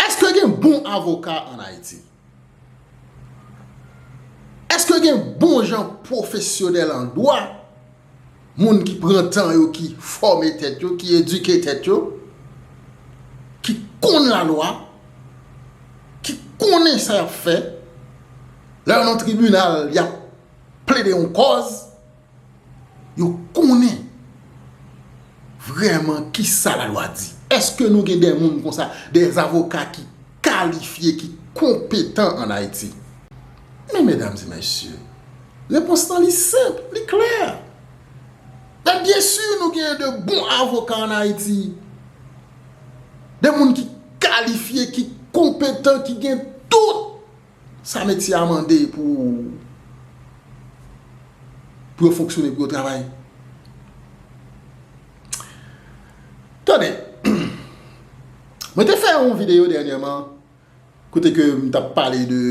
Eske gen bon avoka an Ayiti? Eske gen bon jan pwofesyonèl an dwa, moun ki pran tan yo, ki fòme tèt yo, ki edike tèt yo, ki konn lalwa, ki konnen sa y ap fè, lè yo nan tribinal y ap plede yon kòz? Yo konnen vrèman ki sa la lwa di. Eske nou gen de moun konsa, de avoka ki kalifye, ki konpetan an Ayiti? Men medam e mesye, repons lan li senp, li klè. E byen si nou gen de bon avoka an Ayiti, de moun ki kalifye, ki konpetan, ki gen tout. Sa metye a mande pou pou yo fonksyone, pou yo travay. Tande, mwen te fè yon videyo dènyèman kote ke m t ap pale de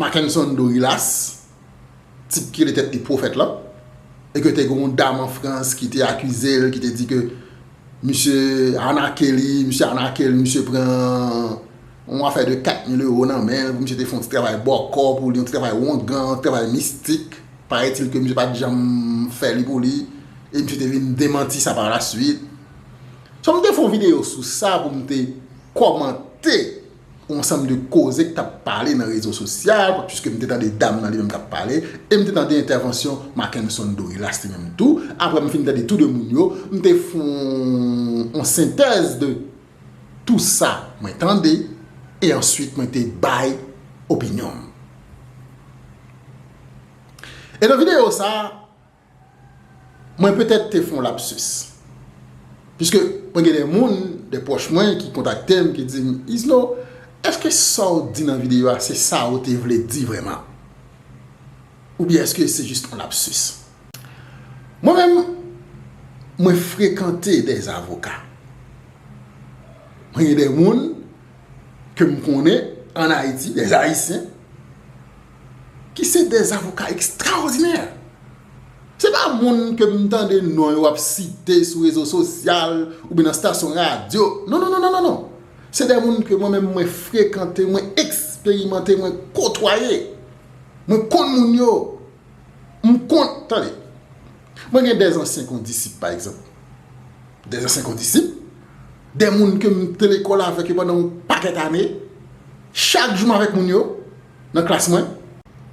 Mackenson Dorilas. tip ki rele tèt li pwofèt lan e ke te gen yon dam an Frans ki te akize l, ki te di ke misye anake li, misye anake l, misye pran yon afè de 4 mil ewo nan men l pou misye te fè yon ti travay bòkò pou li, yon ti travay wongan, yon ti travay mistik, paretil ke misye pa t janm fè li pou li, e misye te vin demanti sa parasuit. So m te fè yon videyo sou sa pou m te kòmante yon ansanm de koze ki t ap pale nan rezo sosyal, puiske m te tande dam nan li menm k ap pale, e m te tande entèvansyon Mackenson Dorilas li menm tou, aprè m fin tande tou de moun yo, m te fè yon sentèz de tou sa mwen tande, e answit mwen te bay opinyon m. E nan videyo sa, Mwen petèt te fè yon lapsus. Piske mwen gen de moun, de pwòch mwen ki kontakte m, ki di m, Isno, èske sa w di nan videyo a se sa ou te vle di vrèman? Oubyen èske se jis yon lapsus? Mwen menm, mwen frekante de avoka. Mwen gen de moun ke m konnen an Ayiti, de Ayisyen. ki se de zavoka ekstraòdinè. Se pa moun ke m tande non yo ap site sou rezo sosyal ou byen nan stasyon radyo. Non, non, non, non, non, non. Se de moun ke mwen menm mwen frekante, mwen eksperimante, mwen kotwaye. Mwen konn moun yo. M konn, tande, mwen gen de zansyen kondisip pa egzanp. De zansyen kondisip, de moun ke m te lekòl avèk yo pandan yon pakèt ane. Chak jou m avèk moun yo. nan klas mwen.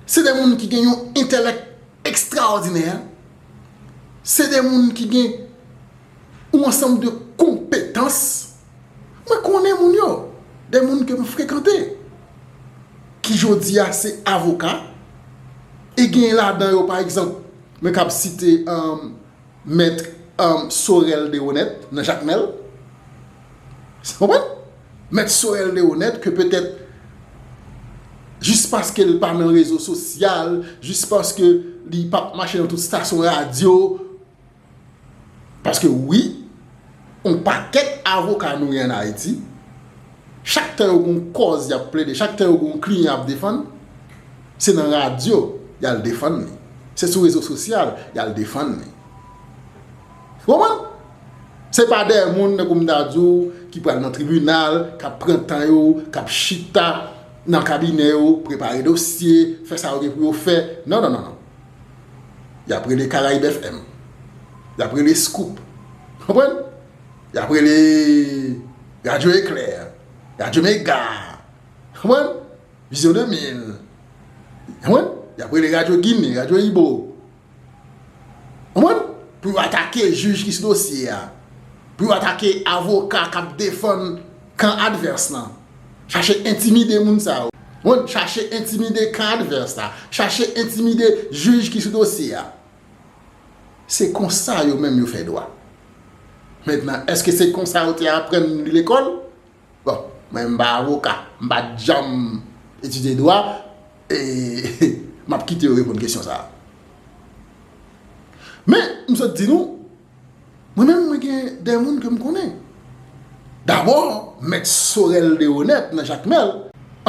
Se de moun ki gen yon entelèk ekstraòdinè. Se de moun ki gen yon ansanm de konpetans. Mwen konnen moun yo, de moun ke m frekante, ki jodi a se avoka, e gen ladan yo pa egzanp, mwen kab site. Maitre Sorel Deroneth nan Jakmel. Ou konprann? Maitre Sorel Deroneth ke petèt jis paske li pa nan rezo sosyal, jis paske li pa mache nan tout stasyon radyo, paske wi, On pakèt avoka nou gen an Ayiti, chak tan yo gen yon kòz y ap plede, chak tan yo gen yon kliyan y ap defann, se nan radyo y al defann li, se sou rezo sosyal y al defann li. Ou konprann? Se pa dèyè moun, tankou m ta di w, ki pral nan tribinal, k ap pran tan yo, k ap chita nan kabinè yo, prepare dosye, fè sa yo gen pou yo fè. Non, non, non, non. Y ap rele Caraïbes FM. Y ap rele Scoop. Konprann? Y ap rele Radio Eclair. Radio Mega. Konprann? Vision 2000. Konprann? Y ap rele Radio Guinée. Radio Ibo. Konprann? Pou yo atake jij ki sou dosye a. Pou yo atake avoka k ap defann kan advès lan. Chache entimide moun sa yo. Wont chache entimide kan advès la. Chache entimide jij ki sou dosye a. Se konsa yo menm yo fè dwa. Mentnan, èske se konsa yo te aprann li lekòl? Bon, mwen menm m pa avoka. M pa t janm etidye dwa. E m ap kite yo reponn kesyon sa a. Men, m sot di nou. Mwen menm mwen gen de moun ke m konnen. Dabò, mèt Sorel Deronette nan Jakmèl,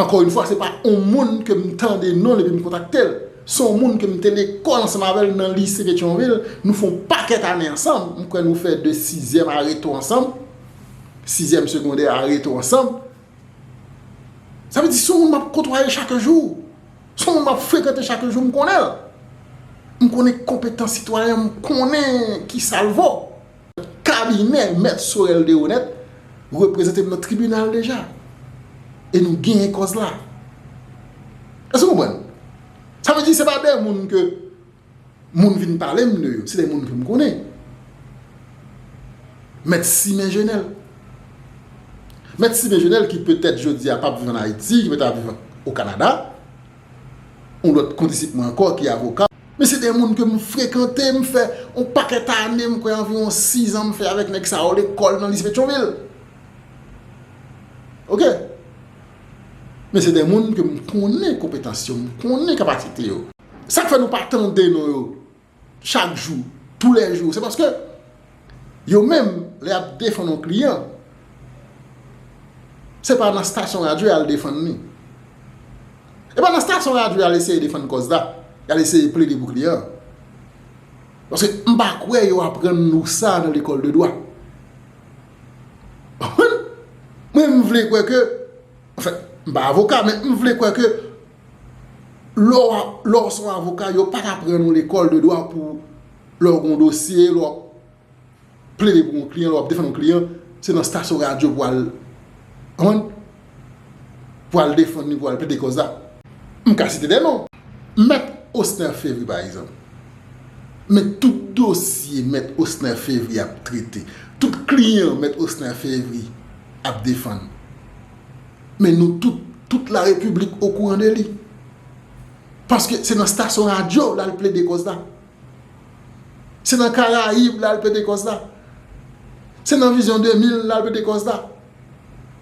ankò yn fwa se pa on moun ke m tande non l epi m kontakte l, se on moun ke m te lekòl ansanm avè l nan lise Petyonvil, nou fè on pakèt ane ansanm, m kwè nou fè de sizyèm a Reto ansanm, sizyèm segondè a Reto ansanm. Sa vle di se on moun m ap kotwaye chak jou. Son moun map frekante chak jou m konnen l. M konnen konpetans sitwayen m konnen kisa l vo. Kabinè Mèt Sorel Deronette reprezante m nan tribinal deja. E nou genyen kòz la. Èske w konprann? Sa vle di se pa de moun ke. Moun vin pale m de yo, se de moun ke m konnen. Mèt Simen Jenèl. Mèt Simen Jenèl ki petèt jodi a pap viv an Ayiti, ki petèt ap viv o Kanada. Yon lòt kondisip mwen ankò ki avoka. Men se de moun ke m frekante, m fè yon pakèt ane, m kwè anviwon 6 an m fè avèk nèg sa yo lekòl nan Lise Petyonvil. Ok. Men se de moun ke m konnen konpetans yo, m konnen kapasite yo. Sak fè nou pa tande non yo chak jou, tou lè jou, se paske yo menm lè yap defann yon kliyan se pa nan stasyon radyo yal defann li. E pa nan stasyon radyo yal eseye defann kòz la, yal eseye plede pou kliyan an. Paske m pa kwè yo aprann nou sa nan lekòl de dwa. Mwen m vle kwè ke, anfen m pa avoka men m vle kwè ke Lè w se yon avoka, yo pa t aprann ou lekòl de dwa pou lè w gen yon dosye, lè w ap plede pou yon kliyan, lè w ap defann yon kliyan, se nan stasyon radyo pou al, konprann, pou al defann li, pou al plede kòz la. M ka site de non. Mèt Osner Fevry pa egzanp. Men tout dosye Mèt Osner Fevry ap trete, tout kliyan Mèt Osner Fevry ap defann. Men nou tout, tout la repiblik okouran de li. Paske se nan stasyon radyo l al plede kòz la. Se nan Karayib l al plede kòz la. Se nan Vizyon 2000 l al plede kòz la.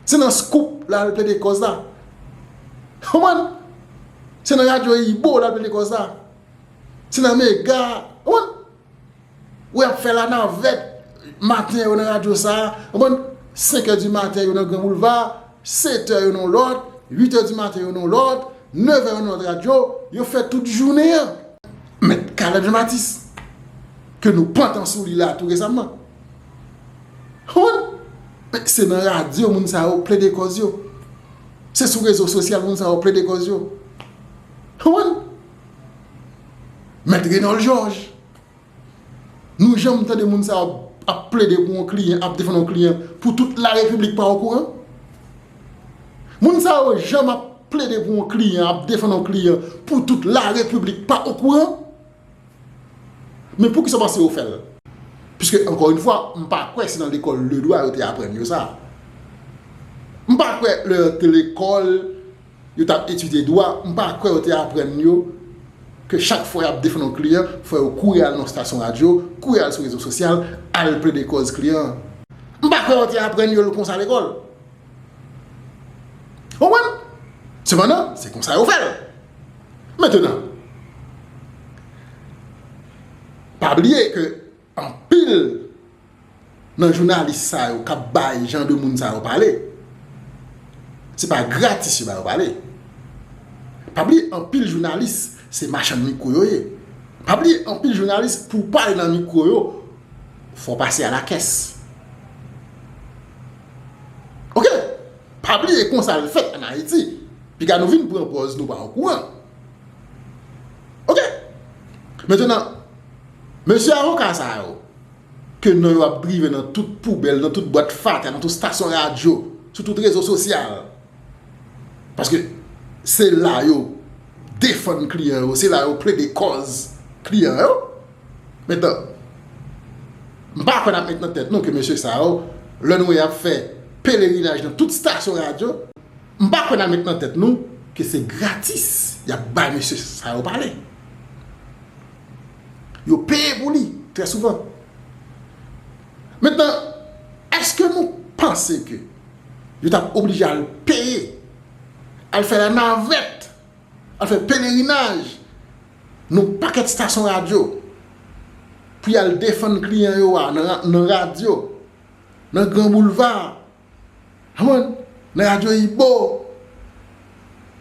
Se nan Skoop l al plede kòz la. Konprann? Se nan radyo Ibo l al plede kòz la. Se nan Mega, konprann? Wè yap fè la navèt maten yo nan radyo sa a, konprann, 5 è di maten yo nan gran boulva, 7 è yo nan yon lòt, 8 è di maten yo nan yon lòt, 9 è yo nan lòt radyo, yo fè tout jounen an. Mèt Caleb Jean Baptiste ke nou pantan sou li la tou resamman. Konprann, se nan radyo moun sa yo plede kòz yo. Se sou rezo sosyal moun sa yo plede kòz yo. Konprann? Mèt Renòl Jòj, Nou janm tande moun sa yo ap plede pou yon kliyan, ap defann yon kliyan pou tout larepiblik pa okouran? Moun sa yo janm ap plede pou yon kliyan, ap defann yon kliyan pou tout larepiblik pa okouran? Men pou kisa w panse yo fè l? Piske ankò yon fwa, m pa kwè se nan lekòl ledwa yo te aprann yo sa. M pa kwè lè yo te lekòl. Yo t ap etidye dwa, m pa kwè yo te aprann yo ke chak fwa y ap defann yon kliyan, fò yo kouri al nan yon stasyon radyo, kouri al sou rezo sosyal, al plede kòz kliyan an. M pa kwè yo te aprann yo l konsa lekòl. Ou konprann? Sepandan, se konsa yo fè l. Mentenan, pa bliye ke Anpil Nan jounalis sa yo kap bay jan de moun sa yo pale se pa gratis yo ba yo pale pa bliye anpil jounalis se machann mikro yo ye pa bliye anpil jounalis pou pale nan mikro yo fò w pase a la kès ok pa bliye konsa l fèt an ayiti piga nou vin pran pòz nou pa okouran ok mentenan Mesye avoka sa yo, ke non yo ap drive nan tout poubèl, nan tout bwat fatra, nan tout stasyon radyo, sou tout rezo sosyal, paske se la yo defann kliyan yo, se la yo plede kòz kliyan yo, men tan, m pa kwè n ap met nan tèt nou ke mesye sa yo, lè nou wè y ap fè pelerinaj nan tout stasyon radyo, m pa kwè n ap met nan tèt nou ke se gratis y ap bay mesye sa yo pale. Yo peye pou li trè souvan. Mentnan, èske nou panse ke yo t ap oblije al peye, al fè lanavèt, al fè pelerinaj nan pakèt stasyon radyo pou y al defann kliyan yo a nan radyo, nan gran boulva? Humm nan radyo Ibo,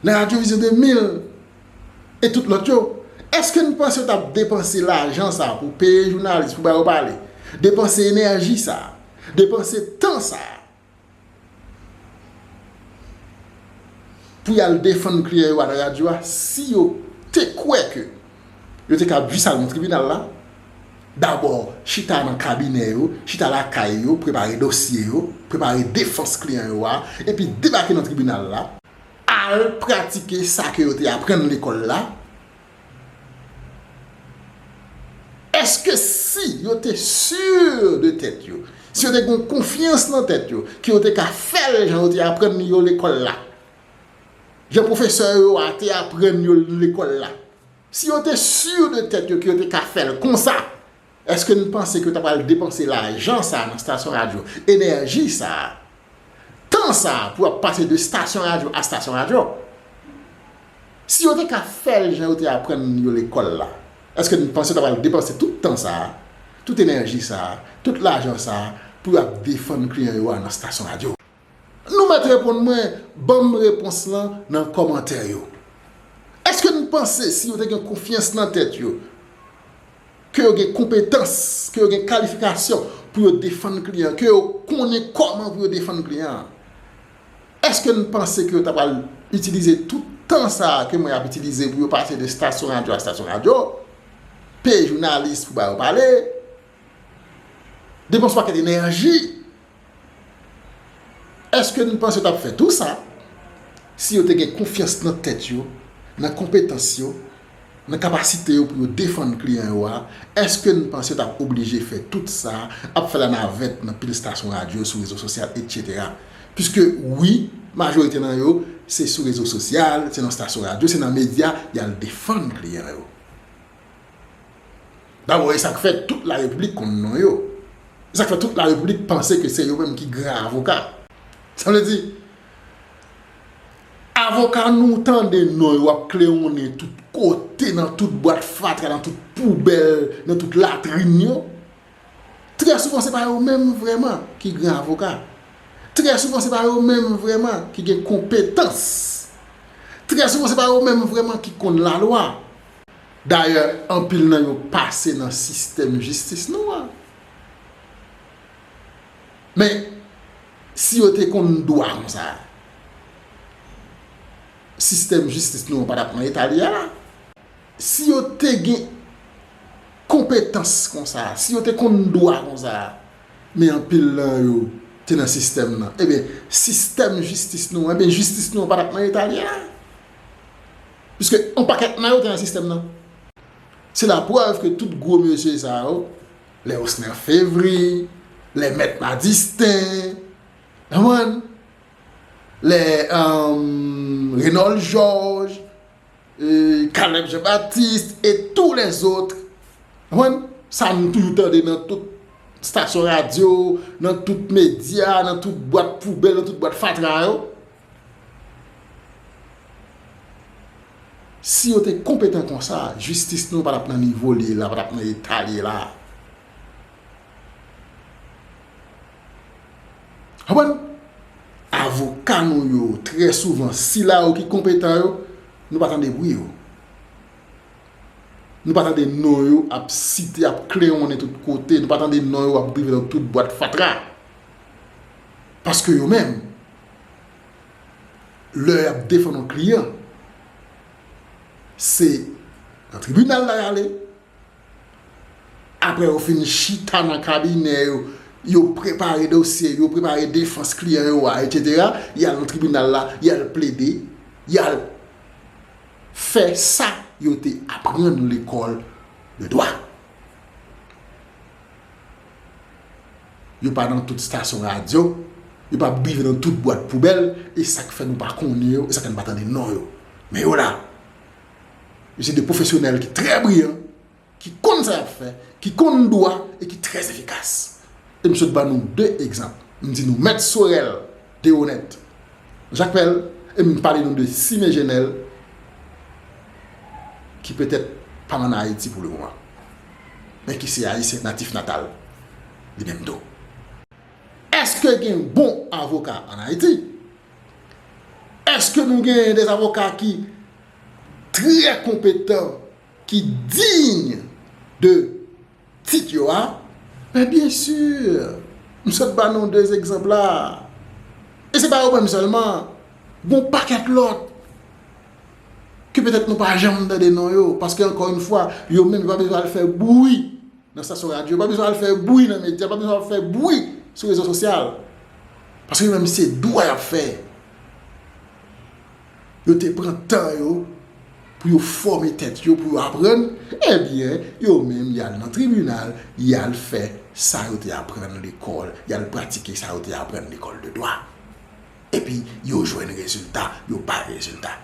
nan radyo Vision 2000 e tout lòt yo, èske nou panse yo t ap depanse lajan sa a pou peye jounalis pou ba yo pale, depanse enèji sa a, depanse tan sa a pou y al defann klyè yo a nan radyo a si yo te kwè ke Yo te kab jis al nan tribinal la, dabò chita nan kabinè yo, chita lakay yo, prepare dosye yo, prepare defans kliyan yo a, epi debake nan tribinal la, al pratike sa ke yo te aprann lekòl la, èske si yo te sur de tèt yo, si yo te gen konfyans nan tèt yo, ke yo te ka fè l jan yo te aprann li yo lekòl la, Jan pwofesè yo a te aprann yo nan lekòl la. Si yo te sur de tèt yo ke yo te ka fè l konsa, èske n panse ke yo ta pral depanse lajan sa a nan stasyon radyo, enèji sa a, tan sa a pou yo ap pase de stasyon radyo a stasyon radyo? Si yo te ka fè l jan yo te aprann yo lekòl la, èske n panse yo ta pral depanse tout tan sa a, tout enèji sa a, tout lajan sa a pou yo ap defann kliyan yo a nan stasyon radyo? Nou mèt reponn mwen banm repons lan nan kòmantè yo. Eske n panse si yo te gen konfyans nan tèt yo, ke yo gen konpetans, ke yo gen kalifikasyon pou yo defann kliyan, ke yo konnen kòman pou yo defann kliyan an, eske n panse ke yo ta pral itilize tout tan sa a ke mwen ap itilize pou yo pase de stasyon radyo a stasyon radyo, peye jounalis pou ba yo pale, depanse pakèt enèji Èske n panse yo t ap fè tou sa si yo te gen konfyans nan tèt yo, nan konpetans yo, nan kapasite yo pou yo defann kliyan yo a? Èske n panse yo t ap oblije fè tout sa, ap fè lanavèt nan pil stasyon radyo, sou rezo sosyal, etsetera? Piske wi, majorite nan yo se sou rezo sosyal, se nan stasyon radyo, se nan medya y al defann kliyan yo. Dabò e sa k fè tout la repiblik konn non yo. E sa k fè tout la repiblik panse ke se yo menm ki gran avoka. Sa vle di, avoka nou w tande non yo ap klewonnen tout kote, nan tout bwat fatra, nan tout poubèl, nan tout latrin yo, trè souvan se pa yo menm vrèman ki gran avoka. Trè souvan se pa yo menm vrèman ki gen konpetans. Trè souvan se pa yo menm vrèman ki konn lalwa. Dayè anpil nan yo pase nan sistèm jistis nou an. Men, si yo te konn dwa konsa, sistèm jistis nou an pa t ap nan eta li ye la. Si yo te gen konpetans konsa, si yo te konn dwa konsa, men anpil nan yo te nan sistèm nan, enben sistèm jistis nou an, enben jistis nou an pa t ap nan eta li ye la. Piske yon pakèt nan yo te nan sistèm nan. Se laprèv ke tout gwo mesye sa yo, lè Osner Fevry, lè Mèt Madistin, konprann, lè Renold Georges, Caleb Jean Baptiste e tou lèzotre, konprann, sa nou toujou tande nan tout stasyon radyo, nan tout medya, nan tout bwat poubèl, nan tout bwat fatra yo. Si yo te konpetan konsa, jistis nou an pa tap nan nivo li ye la, pa tap nan eta li ye la. Konprann? Avoka nou yo, trè souvan, sila yo ki konpetan yo, nou pa tande bri yo. Nou pa tande non yo ap site, ap klewonnen tout kote, nou pa tande non yo ap drive nan tout bwat fatra. Paske yo menm. lè yap defann yon kliyan se nan tribinal la yale aprè yo fin chita nan kabinè yo yo prepare dosye yo prepare defans kliyan yo a etc yal nan tribinal la yal plede yal fè sa yo te aprann lekòl de dwa. Yo pa nan tout stasyon radyo, yo pa ap bive nan tout bwat poubèl, e sa k fè nou pa konnen yo, e sa k fè nou pa tande non yo. Men yo la! Yo se de pwofesyonèl ki trè briyan, ki konn sa y ap fè, ki konn dwa e ki trè efikas. E m sot ban nou de egzanp. M di nou Mèt Sorèl Deronette Jacmel e m pale nou de Cime Jenel ki petèt pa an Ayiti pou le moman men ki se Ayisyen natif natal li menm tou. Eske gen bon avoka an Ayiti? Eske nou gen de avoka ki trè konpetan, ki diy de. Tit yo a? Men byen sur! M sot ba nou 2 egzanp la. E se pa yo menm sèlman. Gon pakèt lòt. Ke petèt nou pa janm tande non yo. Paske ankò yn fwa, yo menm yo pa bezwen al fè bwi nan stasyon radyo. Yo pa bezwen al fè bwi nan medya. Yo pa bezwen al fè bwi sou rezo sosyal. Paske yo menm se dwa y ap fè. Yo te pran tan yo pou yo fòme tèt yo, pou yo aprann, ebyen, yo menm y al nan tribinal, y al fè sa yo te aprann lekòl, y al pratike sa yo te aprann lekòl de dwa. Epi, yo jwenn rezilta, yo bay rezilta.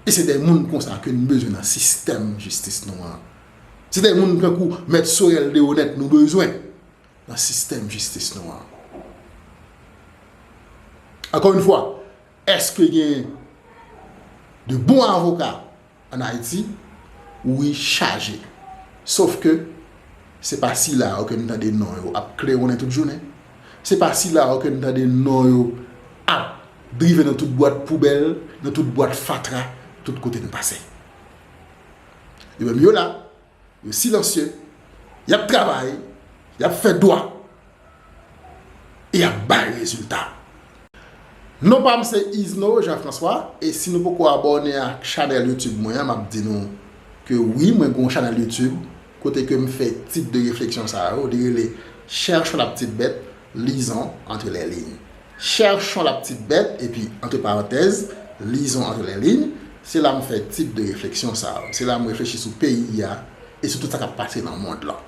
E se de moun konsa ke n bezwen nan sistèm jistis nou an. Se de moun tankou Mèt Sorel Deroneth nou bezwen nan sistèm jistis nou an. Ankò yon fwa, Eske gen de bon avoka an Ayiti? Wi chaje! Sof ke se pa sila yo ke n tande non yo ap klewonnen tout jounen, se pa sila yo ke n tande non yo ap drive nan tout bwat poubèl, nan tout bwat fatra, tout kote n pase. Yo menm yo la! Yo silansye, y ap travay, y ap fè dwa e y ap bay rezilta. Non pam se Yzno Jean François e si nou poko abòne ak chanèl youtube mwen an map di nou ke wi mwen gen yon chanèl youtube kote kem fè tip de refleksyon sa yo li rele cherchons la petite bête. Lizon antre lè liy. Chèchon la ptit bèt epi antre parantèz, lizon antre lè liy, se la m fè tip de refleksyon sa yo. Se la m reflechi sou peyi a e sou tout sa k ap pase nan mond lan.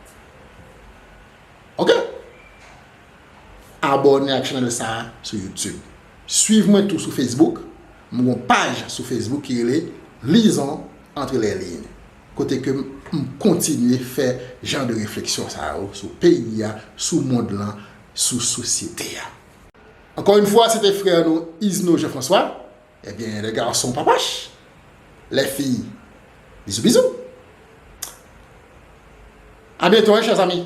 Ok! Abòne ak chanèl sa a sou YouTube. Swiv mwen tou sou Facebook. M gen yon paj sou Facebook ki rele Lizon antre lè liy. Kote ke m kontinye fè jan de refleksyon sa yo sou peyi a, sou mond lan, sou sosyete a. Ankò yn fwa se te frè nou Izno Jean François, ebyen les garçons papach, les filles bisous bisous. A byento hein chers amis.